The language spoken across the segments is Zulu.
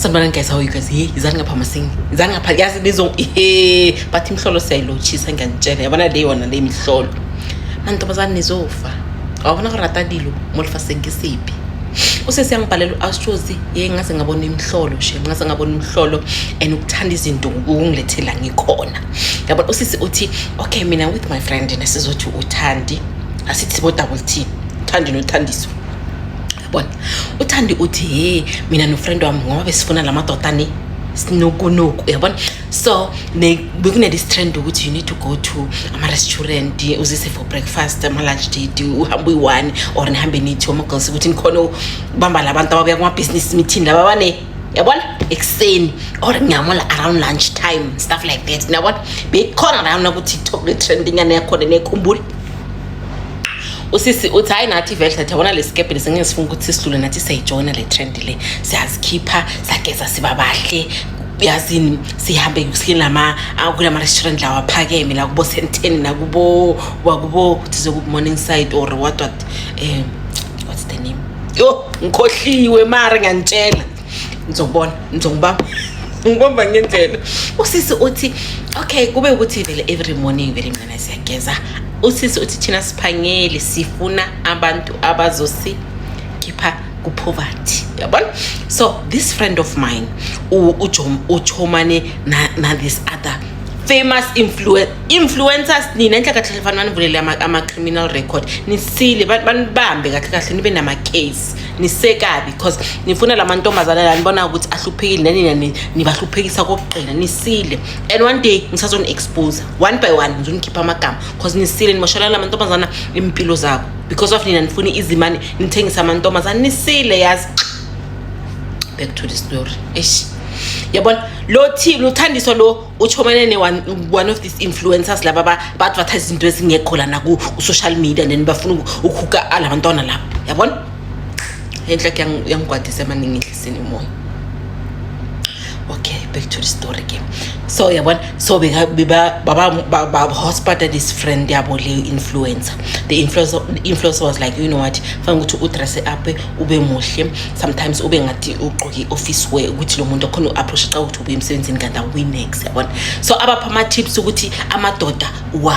sanibona guys how you guys hey izani ngapha masingi izani ngapha yazi nizo he but imhlolo siyayilotshisa ngiyanitshela yabona le yona le mihlolo mantombazane nizofa awabona go rata dilo mo lefaseng ke sepe o se siyangibhalela u-astrosi ye ngaze ngabona imhlolo she ngaze ngabona imhlolo and ukuthanda izinto ukungilethela ngikhona yabona usisi uthi okay mina with my friend nasizothi uthandi asithi sibo-double t uthandi nothandiswa bona uthandi uthi he mina nofriend wami ngoba besifuna la madoda ni sinokunoku uyabona so bekunelesi trend ukuthi you need to go to ama-restaurant uzise for breakfast ama-lunch date uhambe uyi-one or nihambe nithi omagirls ukuthi nikhona ubamba la bantu ababuya kuma-business meeting laba bane yabona ekuseni or ngiyamola around lunch time stuff like that niyabona beyikhona lana ukuthi i-trendingana yakhona nekhumbula usisi uthi hayi nathi vele nathi yabona le sikebhe lesi ngeke sifuna ukuthi sidlule nathi siyayijoyina le trend le siyazikhipha sageza siba bahle yazini sihambe silama kulama-restaurant lawa aphakeme la kubo senteni nakubo wakubo kuthize ku-morning side or what what um what's the name yo ngikhohliwe mara ngiyanitshela ngizokubona ngizokubamba ngibamba ngendlela usisi uthi okay kube ukuthi vele every morning vele mina siyageza usisi uthi thina siphangeli sifuna abantu abazosikhipha kupoverty yabona so this friend of mine uchomane na, na this other famous influen influencers nina enhle kahle fanele banivulele ama-criminal record nisile banibambe kahle kahle nibe nama-case nisekabi because nifuna la mantombazane la nibona ukuthi ahluphekile nanina nibahluphekisa kokugqina nisile and one day ngisazoni-expose one by one ngizonikhipha amagama because nisile nimoshalana la mantombazana impilo zabo because of nina nifuna izimane nithengisa amantombazane nisile yazi back to the story eish yabona lo thile uthandiswa lo uchomane ne one, one of these influencers laba ba- ba-advertise izinto ezingekho lana ku- ku-social media and then bafuna uku- ukuhuka ala bantwana laba yabona enhle ke yang- yangigwadisa emaningi enhlisini umoya okay back to the story ke so yabona so beka- beba- baba- ba- ba- hospital this friend yabo leyo influencer the influencer, the influencer was like you know what fanele ukuthi udresse up ube muhle sometimes ube ngathi ugqoke i-office wear ukuthi lo muntu akhona u-approach xa ukuthi ubuye emsebenzini kanti awuwinex yabona so abapha ama-tips ukuthi amadoda wa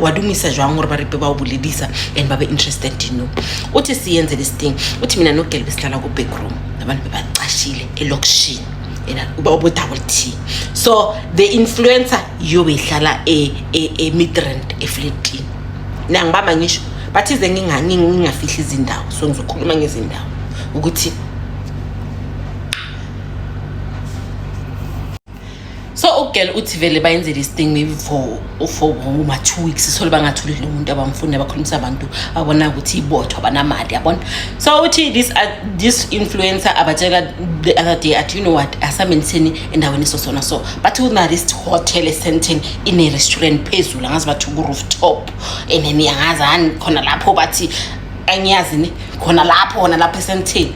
walungisa jwang gore ba repe ba o bolelisa and ba be interested in you uthi siyenze this thing uthi mina nogele besihlala ku-backroom nabantu bebacashile elokishini ubo-double t so the influencer yobe ihlala e-midrand e, e efletini nangibamba ngisho bathize ngingafihli izindawo so ngizokhuluma ngezindawo ukuthi so ugirl uthi vele bayenzele isting maybe for for uma two weeks sithole bangatholi lo muntu abamfuni abakhulumisa abantu abona ukuthi ibothwa banamali yabona so uthi this uh, this influencer abatshela the other day at you know what asamenitheni endaweni sosona so but kuna this hotel esenteni ine restaurant phezulu angazi bathi ku rooftop and then angazi khona lapho bathi angiyazi ne khona lapho khona lapho esenteni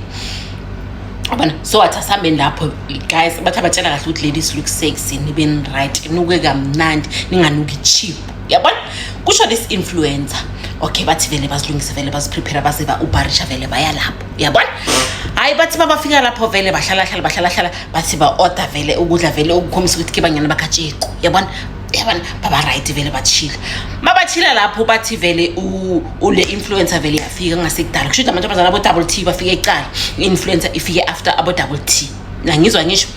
abana so wathi asihambeni lapho guys bathi abatshela kahle ukuthi ladies look sexy nibeni right nuke kamnandi ninganuki cheap yabona kusho this influencer okay bathi vele bazilungise vele baziprepare baze ba-ubarisha vele baya lapho yabona hhayi bathi babafika lapho vele bahlalahlala bahlalahlala bathi ba-order vele ukudla vele okukhombisa ukuthi ke banyana bakatsheko yabona yabona baba right vele bathile mabathile lapho bathi vele ule influencer vele yafika ngasekudala kusho ukuthi amantombazana abo double t bafike ecala influencer ifike after abo double t nangizwa ngisho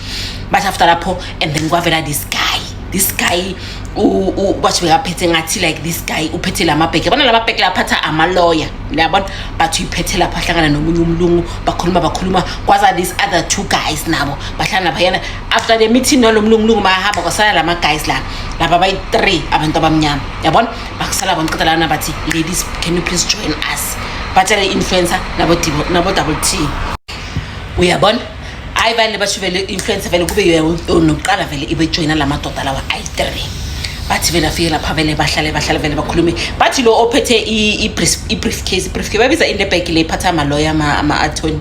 bathi after lapho and then kwavela this guy this guy kwathi bekaphethe ngathi like this guy uphethe la mabheke yabona la mabheke laphatha amaloya yabona bathi uyiphethe lapho ahlangana nomunye umlungu bakhuluma bakhuluma kwaza these other two guys nabo bahlangana phayana after the meeting nalo mlungulungu bayahamba kwasala lama guys la laba bayi three abantu abamnyama yabona bakusala bona qeda lana bathi ladies can you please join us batshele influencer nabo nabo double t uyabona hayi bani basho vele influencer vele kube nokuqala vele ibe joina la madoda lawa ayi three bathi vele afike lapha vele bahlale bahlale vele bakhulume bathi lo ophethe i-brief case i-brief case babiza in the bag le iphatha amaloya ama-attorney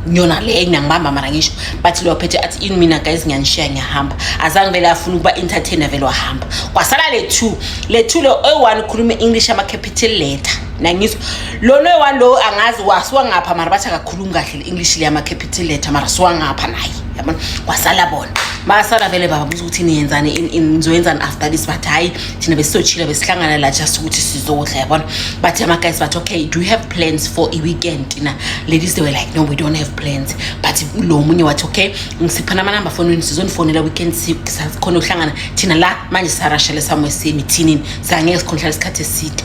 nyona le ngiyangibamba mara ngisho but leyo phethe athi ini mina guys ngiyanishiya ngiyahamba azange vele afuna ukuba entertainer vele wahamba kwasala le two le two le oyi-one ukhuluma i-english ama-capital letter nangizwa lona oyi-one lowo angazi wasiwangapha mara bathi akakhulumi kahle le-english le ama-capital letter mara siwangapha naye yabona kwasala bona basala vele baba buza ukuthi niyenzani nizoyenzani after this but hhayi thina besizochila besihlangana la just ukuthi sizodla yabona but ama guys bathi okay do you have plans for a weekend na ladies they were like no we don't have plans but lo munye wathi okay ngisiphana ama number phone wenu sizonifonela weekend sikhona uhlangana thina la manje sarashele samwe simi thini sangeke sikhonhla isikhathi eside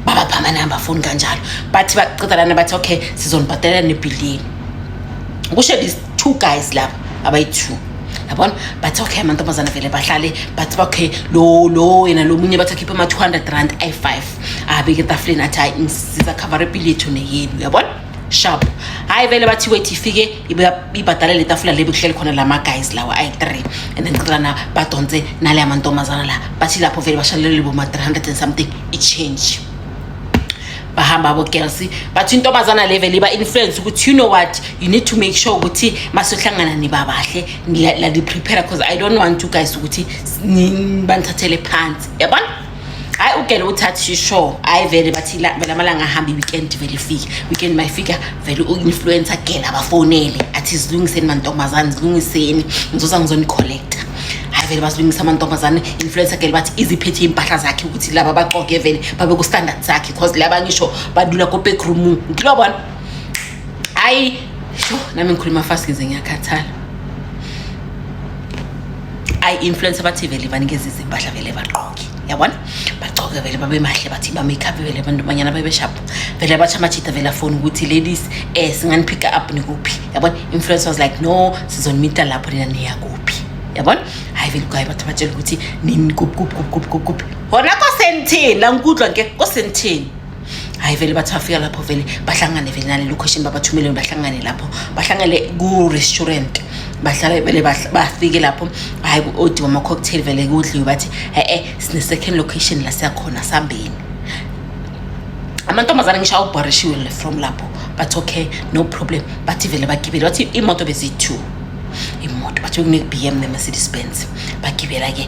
baba phama number phone kanjalo bathi baqeda lana bathi okay sizonibhadela nebilini kusho two guys laba abayi-two yabona bathi okay amantombazana vele bahlale bathi okay lo lo yena lo munye bathi akhiphe ama-two hundred rand ayi-five abeke etafuleni athi hayi ngisiza khavara ipili yethu neyenu yabona sharp hayi vele bathi wethi ifike ibhadale le tafula le bekuhleli khona la ma-guys lawa ayi-three and then qilana badonse nale amantombazana la bathi lapho vele bashalelele boma-three hundred and something i-change bahamba abo girls bathi intombazana level iba influence ukuthi you know what you need to make sure ukuthi masohlangana nibabahle la ni prepare because i don't want you guys ukuthi banithathele phansi yabona hayi ugele uthathi shisho hayi vele bathi vele amalanga ahambe weekend vele ifike weekend mayifika vele u-influencer gela abafonele athi zilungiseni mantombazane zilungiseni ngizoza ngizonicollecta hayi vele bazilungisa amantombazane influencer girl bathi iziphethe impahla zakhe ukuthi laba baxoke vele babe ku standard zakhe cause laba ngisho badlula ko back room ngilobona hayi sho nami ngikhuluma fast ngize ngiyakhathala ayi influencer bathi vele banikeza izimpahla vele baqoke yabona bagcoke vele babe mahle bathi ba-makeup vele abantomanyana babeshapo vele bathi amajita vele afoni ukuthi ladies um eh, singaniphick up nikuphi yabona influence was like no sizonimita lapho nina niyakuphi yabona hayi vele kwaye bathi batshela ukuthi nini kupkupkupkupkupkup hona kosenithini la ngikudlwa ke kosenithini hayi vele bathi bafika lapho vele bahlangane vele nale location babathumele bahlangane lapho bahlangele ku-restaurant bahlale vele bafike lapho hayi odi wama-cocktail vele kudliwe bathi e-e sine-second location la siyakhona sambeni amantombazane ngisho awubhorishiwe from lapho bathi okay no problem bathi vele bagibele bathi imoto beziyi-two imoto bathiwe kune-b m ne-mercedes benz bagibela ke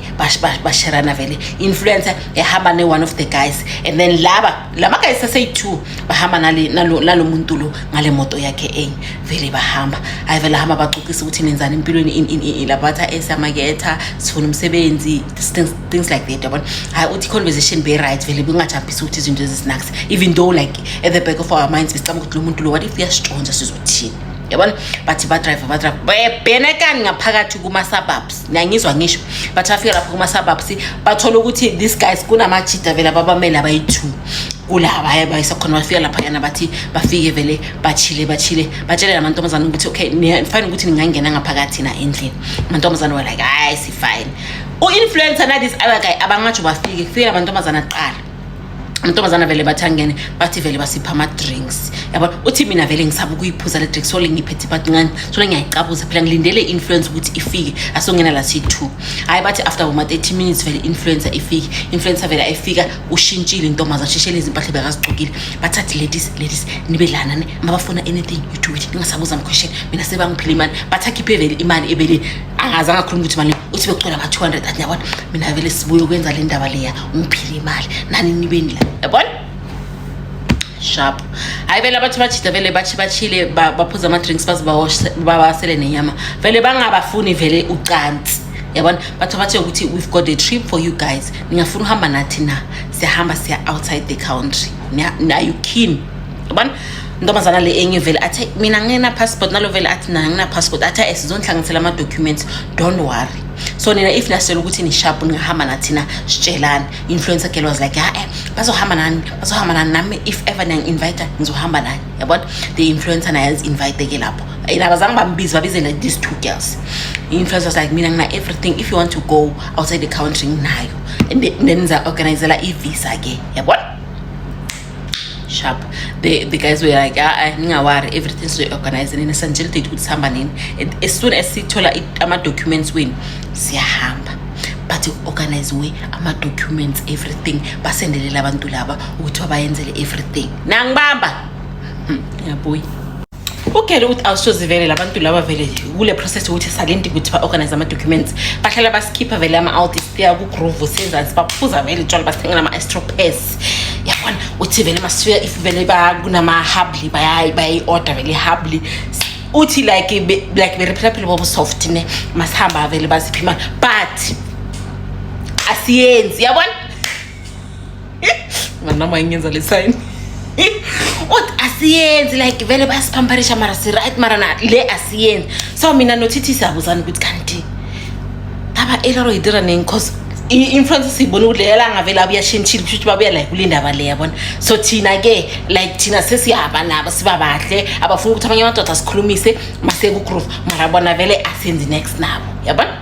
basherana vele influencer ehamba ne-one of the guys and then laba lama guys aseyi-two bahamba nalo muntu lo ngale moto yakhe enye vele bahamba hayi vele hamba bacocisa ukuthi nenzani empilweni labatha esamaketha sifuna umsebenzi things like that yabona hayi uthi i-conversation be-right vele bengajabhisi ukuthi izinto ezisinakisa even though like at the back of our minds besicaba ukuthi lo muntu lo what if uyasitshontsha sizothini yabona bathi badrive badrive bebhenekani ngaphakathi kuma-suburbs niyangizwa ngisho bathi bafika lapho kuma-suburbs bathole ukuthi this guys kunamajida vele ababamele abayi-two kulabaya bayisa khona bafika laphayana bathi bafike vele bachile bachile batshele la mantombazane ukuthi okay fine ukuthi ningangena ngaphakathi na endlini amantombazane were like hayi sifine u-influencer nalisi other guy abangatsho bafike kufike la mantombazane aqala amantombazana vele bathi angene bathi vele basipha ama-drinks yabona uthi mina vele ngisaba ukuyiphuza le drinks sole ngiphethe bathi ncane sole ngiyayicabuza phela ngilindele i-influence ukuthi ifike asongena la siyi-two hhayi bathi after boma-thirty minutes vele i-influencer ifike influencer vele ayifika ushintshile intombazana ashishele izimpahla bekazigqokile bathathi ladies ladies nibe lana ne mabafuna anything you do it ningasabuza amquestion mina sebangiphile imali bathi akhiphe vele imali ebeleni angaze angakhuluma ukuthi mali uthi becwela ama-two hundred athi yabona mina vele sibuye ukwenza le ndaba leya ungiphile imali nani nibeni la yabona sharp hayi vele abathi bajida vele bathi bachile baphuza ama-drinks baze babasele nenyama vele bangabafuni vele ucansi yabona bathi bathe ukuthi we've got a trip for you guys ningafuna uhamba nathi na siyahamba siya outside the country nayo keen yabona ntombazana le enye vele athe mina ngingena-passport nalo vele athi nina ngina-passport athe esizonihlanganisela ama-documents don't worry so nina if nasitshela ukuthi nishapu ningahamba nathina sitshelani influencer girl was like ha-e eh, bazohamba nani bazohamba nani nami if ever niyangi-invita ngizohamba nani yabona the influencer naye azi-invite-ke lapho and abazange bambize babizele these two girls i-influencer was like mina ngina everything if you want to go outside the country nginayo and then ngiza-organizela i-visa ke yabona sharp the, the guys were like ah, ah ningawari everything sizoyi-organize nini sanjele date ukuthi sihamba nini as soon as sithola ama-documents wenu siyahamba but organiziwe ama-documents everything basendelele abantu laba ukuthi babayenzele everything nangibamba hmm, yabuyi ugele ukuthi awusoze vele labantu laba vele kule process ukuthi salindi ukuthi ba-organize ama-documents bahlala basikhipha vele ama-audit siya kugroove senzansi baphuza vele tshwala basithengela ama-astropes yabona uthi vele masifika if vele kunama-hubly bayayi-order vele i-hubly uthi like like beriphilaphile bobo soft ne masihamba vele baziphi imali but asiyenzi yabona manama ingenza le sign uthi asiyenzi like vele bayasiphamparisha mara si-right mara na le asiyenzi so mina nothithi siyabuzana ukuthi kanti laba elaro yidira nini cause influence siyibona ukuthi leyo langa vele abuyashintshile kusho ukuthi babuya like kule ndaba le yabona so thina-ke like thina sesihamba nabo siba bahle abafuna ukuthi abanye amadoda sikhulumise masekugroove mara bona vele asenzi next nabo yabona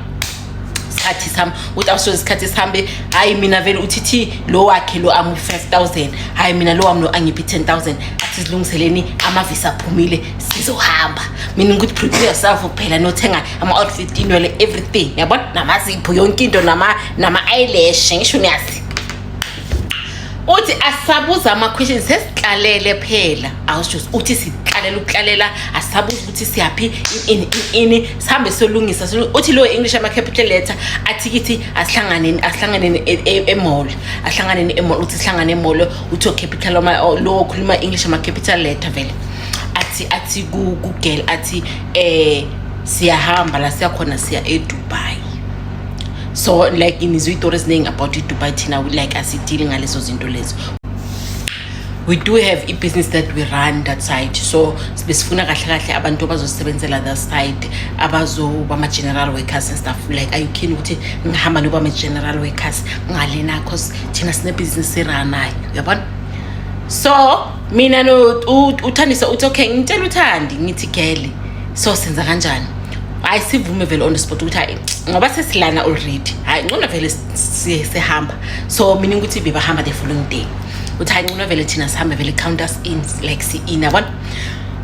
isikhathi sami uthi awusoze isikhathi sihambe hhayi mina vele uthi thi lo wakhe lo amu 5000 hhayi mina lo wami lo angiphi 10000 athi zilungiseleni amavisi aphumile sizohamba mina ukuthi prepare yourself kuphela nothenga ama-outfit inwele everything yabona namazipho yonke into nama-eyelash ngisho niyazi uthi asabuza ama-questions sesihlalele phela awusho uthi sihlalela ukuhlalela asabuza ukuthi siyaphi ini ini sihambe siyolungisa uthi lowo english ama-capital letter athi kithi asihlanganeni asihlanganeni e, e, emall asihlanganeni emall uthi sihlangane emall uthi ocapital lowo okhuluma english ama-capital letter vele athi athi kugirl athi eh siyahamba la siyakhona siya edubai so like ngizwe iy'tori eziningi about idubai thina like asidili ngalezo zinto lezo we do have a business that we run that side so besifuna kahle kahle abantu abazosebenzela that side abazoba ama-general workers and stuff like are you keen ukuthi ngihamba noba ama-general workers ngalena cause thina sinebhizinisi eranayo uyabona so mina no uthandisa uthi okay ngitshela uthandi ngithi gele so senza kanjani hayi sivume vele on the spot ukuthi hayi ngoba sesilana already hayi ngcono vele siye sihamba so mina ukuthi bebahamba the following day uthi hayi ncono vele thina sihambe vele count us in like si-in yabona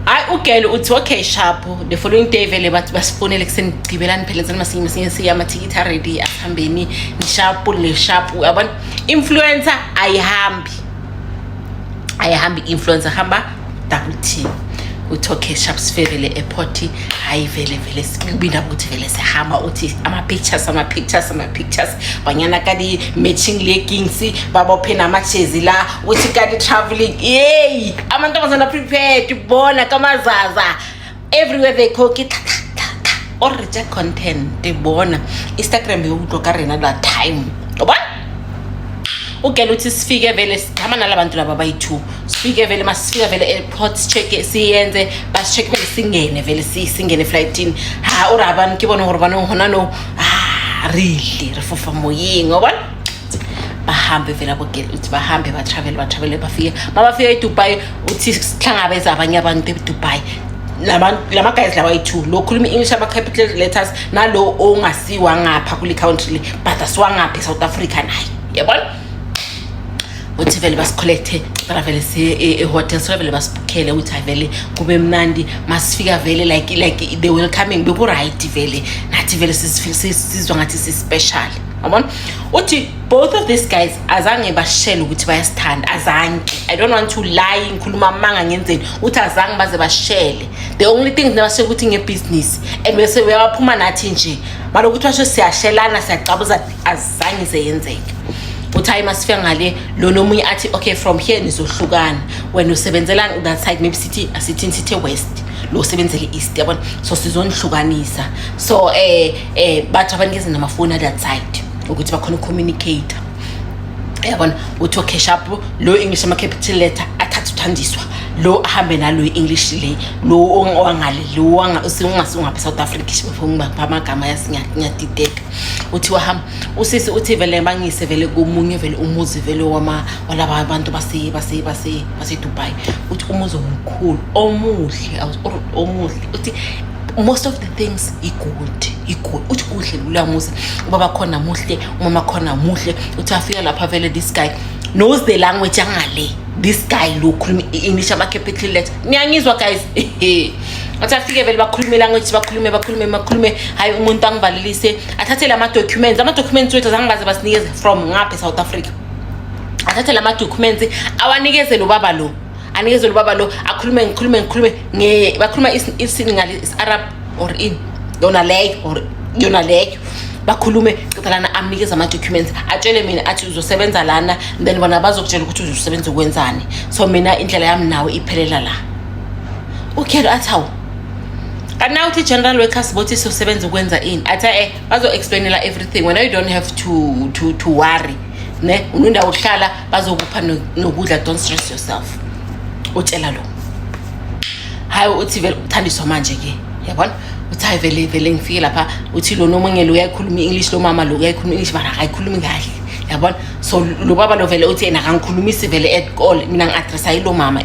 hayi ugele uthi okay shapo the following day vele bathi basifonele kusenigqibelani phela nzani masinye masinye siya amathikithi aredi asihambeni nishapo neshapo yabona influencer ayihambi ayihambi i-influencer hamba double team uthi okay shap sifekele ephoti hhayi vele vele sibinda ukuthi vele sihamba uthi ama-pictures ama-pictures ama-pictures banyana kadi matching leggings babophe namajezi la uthi kadi traveling yeyi amantombazana prepared bona kamazaza everywhere they call ke or reject content te bona instagram yo utlwa ka rena that time ngoba ugela ukuthi sifike vele sigama nala bantu laba bayi-two sifike vele masifika vele airport check siyenze basicheck vele singene vele singene eflightini ha uri abantu ke bona gore banong gona no ha rile re fofa moyeng wa bona bahambe vele abogela ukuthi bahambe batravele batravele bafike babafika edubai uthi sihlangabeza abanye abantu edubai lama guys lawa yi-two lo khuluma i-english ama-capital letters nalo ongasiwa ngapha kule country le but asiwangapha e-south africa naye yabona uthi vele basikholekthe travele siye-hotel e-, sona vele basibukhele ukuthi hayi vele kube mnandi masifika vele like like the welcoming beku-right vele nathi vele sizwa ngathi si-special yabona uthi both of these guys azange bashele ukuthi bayasithanda azange i don't want to lie ngikhuluma amanga ngenzeni ukuthi azange baze bashele the only thing nabashe ukuthi ngebhizinisi and bese uyabaphuma nathi nje maloku ukuthi basho siyashelana siyacabuza azange seyenzeke uthi hayi masifika ngale lona omunye athi okay from here nizohlukana wena usebenzela that side maybe sithi asithini sithe west lo usebenzele east yabona so sizonihlukanisa so eh eh bathi abanikeza namafoni at that side ukuthi bakhona ucommunicate yabona uthi ocash up lo english ama-capital letter athathe uthandiswa lo ahambe nalo i-english le lo owangale lo ungasungabe south africa amagama yasinyadideka uthi wahamba usisi uthi vele bangise vele komunye vele umuzi vele walaba bantu basedubai uthi umuzi omkhulu omuhle omuhle uthi most of the things i-good i-good uthi kuhle lula musa ubaba khona muhle umama khona muhle uthi afika lapha vele this guy knows the language angale this guy lo ukhuluma i-english ama-capital letter niyangizwa guys athi afike vele bakhulume language bakhulume bakhulume bakhulume hhayi umuntu angivalelise athathele ama-documents ama-documents wethu azangibaze basinikeze from ngapha e-south africa athathele ama-documents awanikeze lo baba lo anikezwe lobaba lo akhulume ngikhulume ngikhulume nge bakhuluma isini ngale arab or in yona leyo or yona leyo bakhulume qeda lana amnikeze ama-documents atshele mina athi uzosebenza lana then bona bazokutshela ukuthi uzosebenza ukwenzani so mina indlela yami nawe iphelela la ukhelo athi hawu kana uthi general workers bothi sosebenza ukwenza ini athi eh bazo-explainela everything wena you don't have to, to, to worry ne unendawo uhlala bazokupha nokudla don't stress yourself utshela lo hayi uthi vele uthandiswa manje ke yabona uthi hayi vele vele ngifike lapha uthi lona omunye lo uyayikhuluma i-english lo mama lo uyayikhuluma i-english mara akayikhulumi kahle yabona so lo baba lo vele uthi yena akangikhulumisi vele at all mina ngi-adressa yilo mama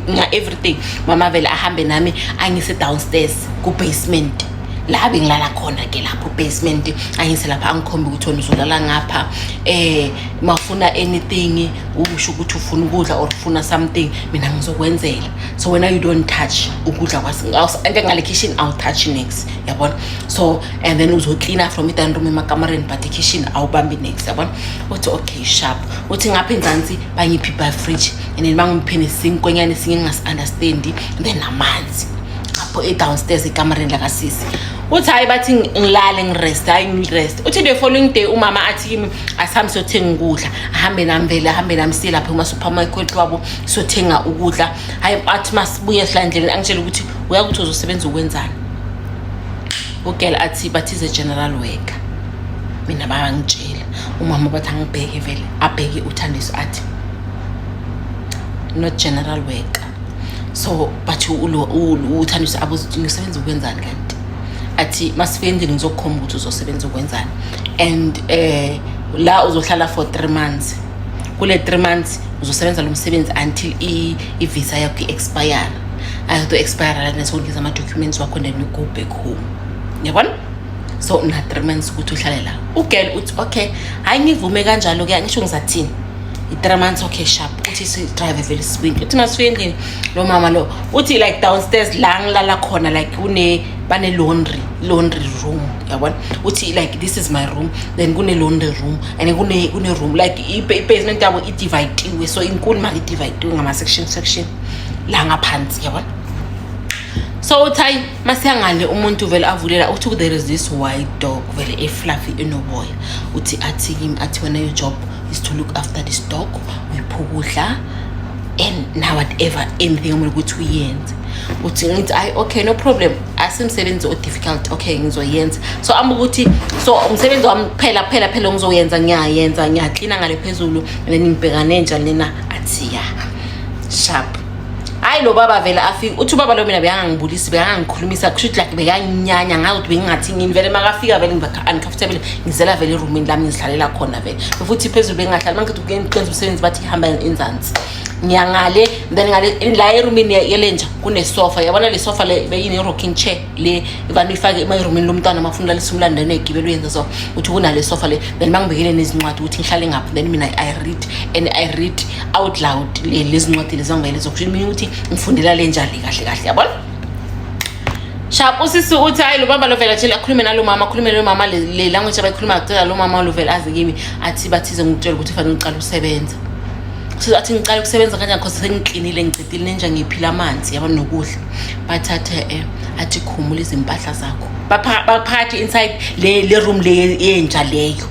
nga-everything mama vele ahambe nami angise downstairs ku-basement la bengilala khona ke lapho basement angise lapha angikhombe ukuthi wena uzolala ngapha eh uma ufuna anything usho ukuthi ufuna ukudla or ufuna something mina ngizokwenzela so wena you don't touch ukudla kwasnje ngale kitchen i'll touch next yabona so and then uzoklina from idan room emakamareni but ikitchen awubambi next yabona uthi okay sharp uthi ngapha enzansi bangiphi by fridge and then bangiphe nesinkwenyane esinye ngingasi-understandi then namanzi lapho e-downstairs ekamareni lakasisi uthi hhayi bathi ngilale ngirest hhayi ngirest uthi the following day umama athi kimi asihambe siyothenga ukudla ahambe nami vele ahambe nami siye lapha kumasupermarket wabo siyothenga ukudla hhayi athi masibuye silandleleni angitshela ukuthi uyakuthi uzosebenza ukwenzani ugel athi bathize general worker mina bangitshela umama bathi angibheke vele abheke uthandiso athi not general worker so but uthandisa ngisebenza ukwenzani kanti athi masifike endlini ngizokukhomba ukuthi uzosebenza ukwenzani and um la uzohlala for three months kule three months uzosebenza lo msebenzi until i-visa yakho i-expire ayoto expire lana sokungeza ama-documents wakho then you go back home yabona so una-three months ukuthi uhlale la ugirl uthi okay hhayi ngivume kanjalo-ke angisho ngizathini i-three months okay sharp uthi sidrive vele sibuyile uthi masibuye endlini lo mama lo uthi like downstairs la ngilala khona like kune bane-laundry laundry room yabona uthi like this is my room then kune-laundry room and kune-room like i-basement yabo idivayitiwe so inkulu mali idivayitiwe ngama-section section la ngaphansi yabona so uthi hayi masiyangale umuntu vele avulela uthi there is this white dog vele efluffy enoboya uthi athi kimi athi wena your job is to look after this dog uyipha ukudla and now whatever anything omele ukuthi uyenze uthi ngithi ayi okay no problem asimsebenzi o-difficult okay ngizoyenza so amba ukuthi so umsebenzi wami kuphela kuphela phela ngizoyenza ngiyayenza ngiyaklina ngale phezulu and then ngibhekane njani lena athi ya sharp hayi lo baba vele afika uthi ubaba lo mina bekangangibulisi bekangangikhulumisa kusho ukuthi like bekanginyanya ngazi ukuthi bengingathi ngini vele makafika vele ngiba-uncomfortable ngizela vele erumini lami ngizihlalela khona vele futhi phezulu bengingahlali mangithi kuyenqenza umsebenzi bathi ihamba enzansi ngiyangale then ngale la erumini yelenja kunesofa yabona le sofa le beyine-rocking chair le kanti uyifake emayirumini lomntwana uma ufuna ulalisa umlando enegibela uyenza so uthi kunale sofa le then uma ngibekele nezincwadi ukuthi ngihlale ngaphi then mina i read and i read out loud lezi ncwadi lezi angibekele zokusho mina ukuthi ngifundela le njali kahle kahle yabona shap usisi uthi hayi lo baba lovela tshela akhulume nalo mama akhulume nalo mama le language abayikhuluma kucela lo mama lovela azi kimi athi bathize ngikutshela ukuthi fanele uqale usebenza so athi ngiqale ukusebenza kanjani cause sengiklinile ngicedile nenja ngiphila amanzi yabona nokudla bathathe eh, athi khumula izimpahla zakho baphakathi inside le le room le yenja leyo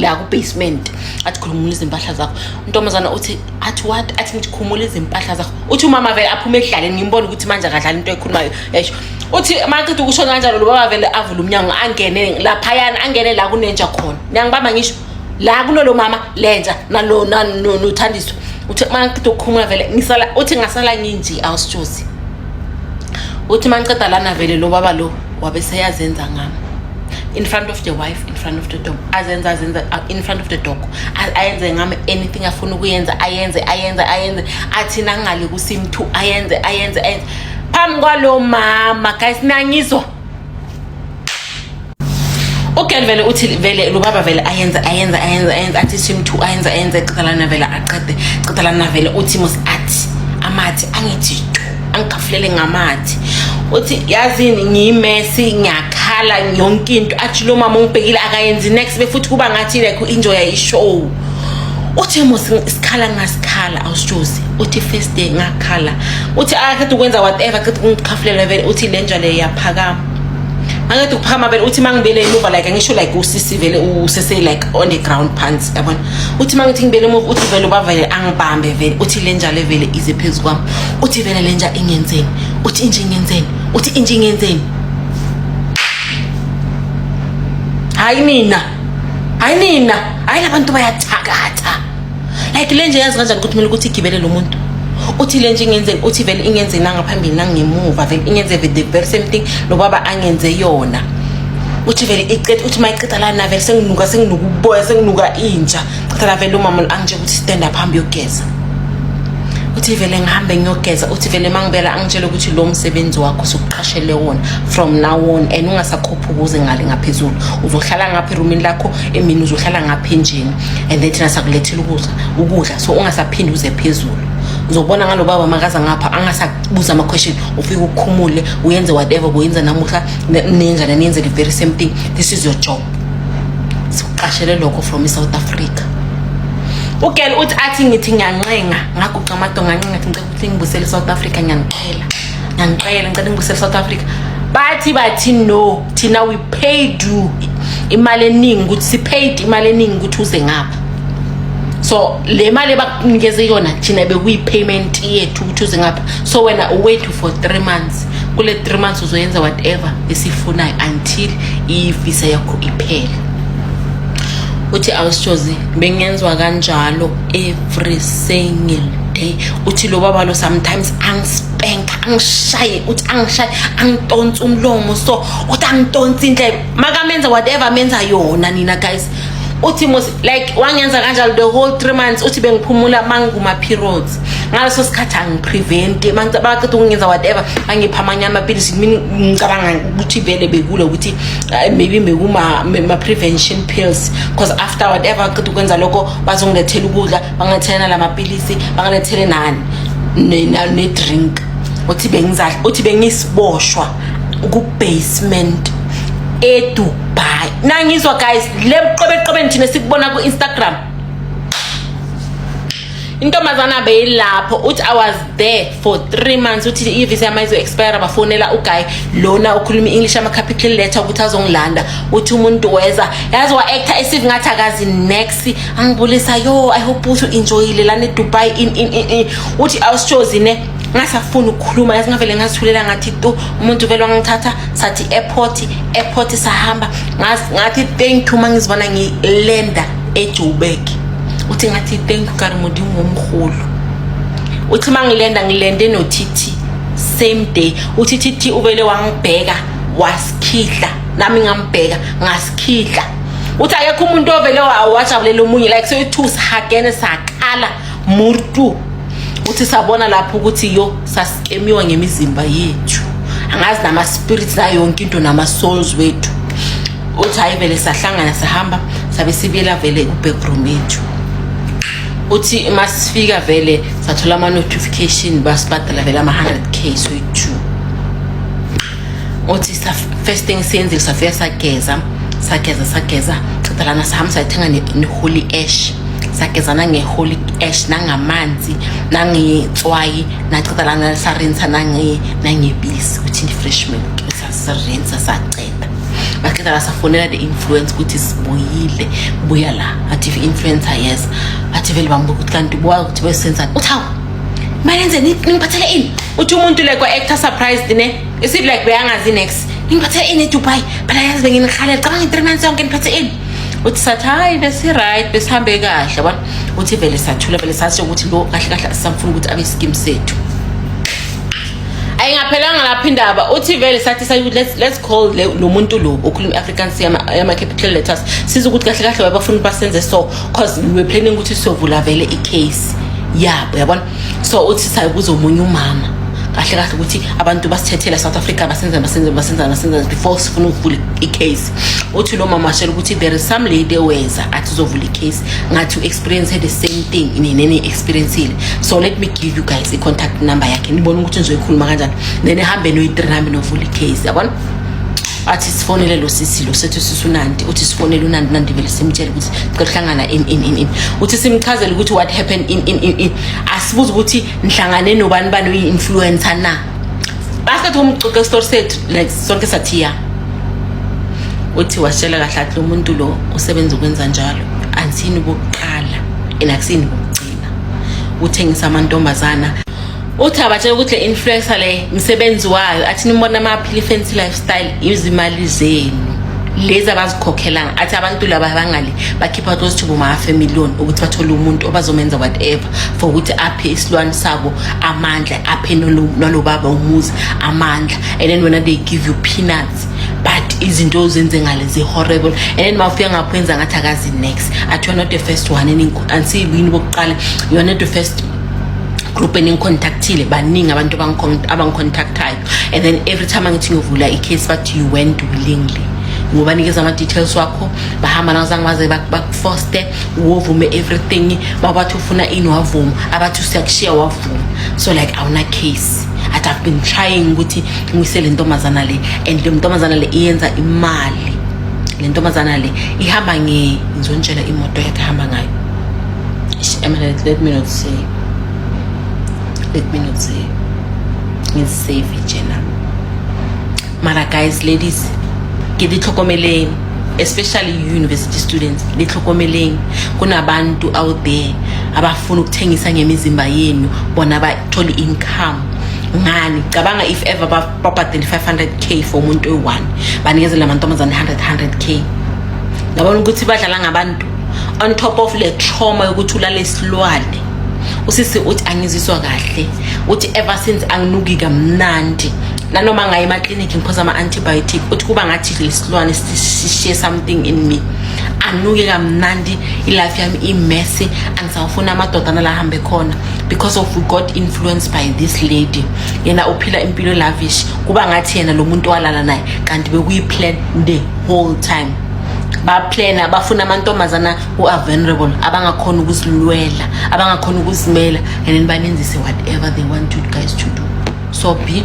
la ku basement athi khumula izimpahla zakho untombazana uthi athi what athi ngithi khumula izimpahla zakho uthi umama vele aphume edlaleni ngimbona ukuthi manje akadlali into ekhulumayo esho uthi maqeda ukusho kanjalo lo baba vele avule umnyango angene laphayana angene la kunenja khona niyangibamba ngisho la kunolo mama lenja nalo nothandiswa uthi uma ngiqeda ukukhumula vele ngisala uthi ngasala nginje awusitshosi uthi uma ngiqeda lana vele lo baba lo wabe seyazenza ngami in front of the wife in front of the dog azenza azenza uh, in front of the dog ayenze ngami anything afuna ukuyenza ayenze ayenze ayenze athi nangale kusimthu ayenze ayenze ayenze phambi kwalo mama guys nangizwa ugen vele uthi vele lubaba vele ayenze ayenze ayenze ayenze athi simthu ayenze ayenze qedalana vele aqede qedalana vele uthi mos athi amathi angithi angigafulele ngamathi uthi yazini ngiyimesi ngiyakhala yonke into athi lo mama ungibhekile akayenzi next befuthi kuba ngathi like u-enjoya ishow uthi mos isikhala ngasikhala awusitshozi uthi first day ngakhala uthi akade ukwenza whatever qeda ukungikhafulela vele uthi le njalo iyaphakama angede ukuphakama vele uthi mangibele emuva like ngisho like usisi vele usese like on the ground pants yabona uthi mangithi ngibele emuva uthi vele ubavele angibambe vele uthi le njalo vele ize phezu kwami uthi vele le nja ingenzeni uthi inje ingenzeni uthi inje ingenzeni hayi mina hayi nina hayi labantu bayathakatha like le nje yazi kanjani ukuthi kumele ukuthi igibele lo muntu uthi le nje ingenze uthi vele ingenze nangaphambili nangemuva vele ingenze the very same thing lo baba angenze yona uthi vele iqeda uthi mayiqeda la na vele senginuka senginuka uboya senginuka inja qeda la vele umama angitshela ukuthi stand up hambe yogeza uthi vele ngihambe ngiyogeza uthi vele mangibela angitshela ukuthi lo msebenzi wakho sokuqashele wona from now on and ungasakho ukuze ngale ngaphezulu uzohlala ngapha erumini lakho emini uzohlala ngapha enjeni and then thina sakulethela ukudla ukudla so ungasaphindi uze phezulu uzobona ngalo baba makaza ngapha angasabuza ama-question ufike ukhumule uyenze whatever kuyenza namuhla nenjani niyenze the very same thing this is your job sikuqashele lokho from i-south africa ugel uthi athi ngithi ngiyancenga ngaguqa amato ngancenga thi ngicela ukuthi ngibusele i-south africa ngiyanixhela ngicela ngicela ngibusele south africa bathi bathi no thina we paid you imali eningi ukuthi sipaid imali eningi ukuthi uze ngapha so le mali ebakunikeze yona thina bekuyi-payment yethu ukuthi uze ngapha so wena uwait for three months kule three months uzoyenza whatever esifunayo until ivisa yakho iphele uthi awusitshozi bengenzwa kanjalo every single day uthi lo baba lo sometimes angispank angishaye uthi angishaye angitonsa umlomo so uthi angitonsa indlela makamenza whatever menza yona nina guys uthi mos like wangenza kanjalo the whole 3 months uthi bengiphumula manguma periods ngaleso sikhathi angiprevent baqeda ukungenza whatever angipha amanye amapilisi mina ngicabanga ukuthi vele bekule ukuthi eh, maybe bekuma ma prevention pills because after whatever qeda ukwenza lokho bazongilethela ukudla bangathelana la mapilisi bangalethelelani ne-drink uthi bengizadla uthi bengisiboshwa ku-basement edubai nangizwa guys le buqobeqobeni thina sikubona ku-instagram intombazana beyilapho uthi i was there for three months uthi ivisa yama izo-expire bafonela uguy lona ukhuluma i-english ama-capital letter ukuthi azongilanda uthi umuntu weza yazi wa-actor esive ngathi akazi nex si angibulisa yo i hope uthi enjoyile lana edubai in in in uthi awusitshozi ne ngasafuni ukukhuluma yazi ngavele ngazithulela ngathi tu umuntu vele wangithatha sathi airport airport sahamba ngathi thank you mangizibona ngilenda ejoburg uthi ngathi thank you karimodi ngomhulu uthi mangilenda ngilende nothithi same day uthithi uvele wangibheka wasikhihla nami ngambheka ngasikhihla uthi akekho umuntu ovele wajabulela omunye like soyi-two sihagene sakhala murtu uthi sabona lapho ukuthi yo sasikemiwa ngemizimba yethu angazi nama-spirits nayo yonke into nama-souls wethu uthi hhayi vele sahlangana sahamba sabe sibuyela vele ku-backroom yethu uthi uma sifika vele sathola ama-notification basibhadala vele ama-100 k soyi-two uthi first thing siyenzile safika sageza sageza sageza ceda lana sihamba sayithenga ne-holy ash sagezana nge-holy ash nangamanzi nangetswayi naceda lana sarinsa nangebisi ukuthi ndi-fresh milk sasirinsa saceda baqeda la safonela the influence ukuthi sibuyile buya la athi i-influencer yes athi vele bambuka ukuthi kanti buwa ukuthi besenzani uthi hawu Malenze ningiphathele ini? Uthi umuntu like wa actor surprised ne? Is it like beyangazi next? Ningiphathele ini eDubai? Phela yazi benginikhalela cabanga 3 months yonke niphathe ini? uthi sathi hayi besi-right besihambe kahle bona uthi vele sathula vele sasho ukuthi lo kahle kahle asisamfuna ukuthi abe isikimu sethu ayingaphelanga lapho indaba uthi vele sathi sathi let's let's call lo muntu lo okhuluma iAfrikaans yama yama capital letters siza ukuthi kahle kahle wabafuna basenze so cause niwe planning ukuthi siyovula vele icase yabo yabona so uthi sayobuza omunye umama kahle kahle ukuthi abantu basithethela south africa basenza basenza basenza basenza before sifuna ukuvula icase uthi lo mama ashela ukuthi there is some lady eweza athi uzovula icase ngathi u-experience the same thing ninene experiencile so let me give you guys i-contact number yakhe nibone ukuthi nizoyikhuluma kanjani then ehambe noyi-three nami novula icase yabona athi sifonele lo sisi lo sethu sisunandi uthi sifonele unandi nandi vele simtshele ukuthi sihlangana in in in in uthi simchazele ukuthi what happened in in in in asibuza ukuthi nhlangane nobani bani uyi influencer na basket umcoke store set like sonke sathiya uthi washela kahle athi umuntu lo usebenza ukwenza njalo anthini bokuqala enakusini bokuqala uthengisa amantombazana uthi abatshela ukuthi le influencer le msebenzi wayo athi nimbona amaphili fancy lifestyle izimali zenu lezi abazikhokhelanga athi abantu laba bangale bakhipha those two boma half a million ukuthi bathole umuntu obazomenza whatever for ukuthi aphe isilwane sabo amandla aphe nalobaba umuzi amandla and then wena they give you peanuts but izinto ozenze ngale zi-horrible and then mawufika ngapho enza ngathi akazi next athi you're not the first one and siyibuyini bokuqala you're not the first group eningicontactile baningi abantu abangicontactayo and then every time angithi ngiyovula i-case bathi you went willingly ngobanikeza ama-details wakho bahamba nazange baze bakufoste wovume everything babathi ufuna ini wavuma abathi usiyakushiya wavuma so like awuna case athi i've been trying ukuthi ngise le ntombazana le and le ntombazana le iyenza imali le ntombazana le ihamba nge ngizonitshela imoto yakhe ahamba ngayo Eminent, let me not say. Let me not say. It's safe, Jenna. Mara guys, ladies, ke di tlhokomeleng especially university students le tlhokomeleng kunabantu out there abafuna ukuthengisa ngemizimba yenu bona bathole income ngani cabanga if ever babhadele 500k for umuntu oyi-one banikezela amantombazane 100 100k ngabona ukuthi badlala ngabantu on top of le trauma yokuthi ulale isilwane usisi uthi angiziswa kahle uthi ever since anginuki kamnandi nanoma ngaye emakliniki ngiphosa ama-antibiotic uthi kuba ngathi lesilwane sishiye something in me anuke kamnandi ilife yami imessy angisawufuni amadodana la ahambe khona because of we got influenced by this lady yena uphila impilo lavish kuba ngathi yena lo muntu walala naye kanti bekuyi-plan the whole time baplana bafuna amantombazana ku-avenerable abangakhona ukuzilwela abangakhona ukuzimela and then banenzise whatever they want you guys to do so be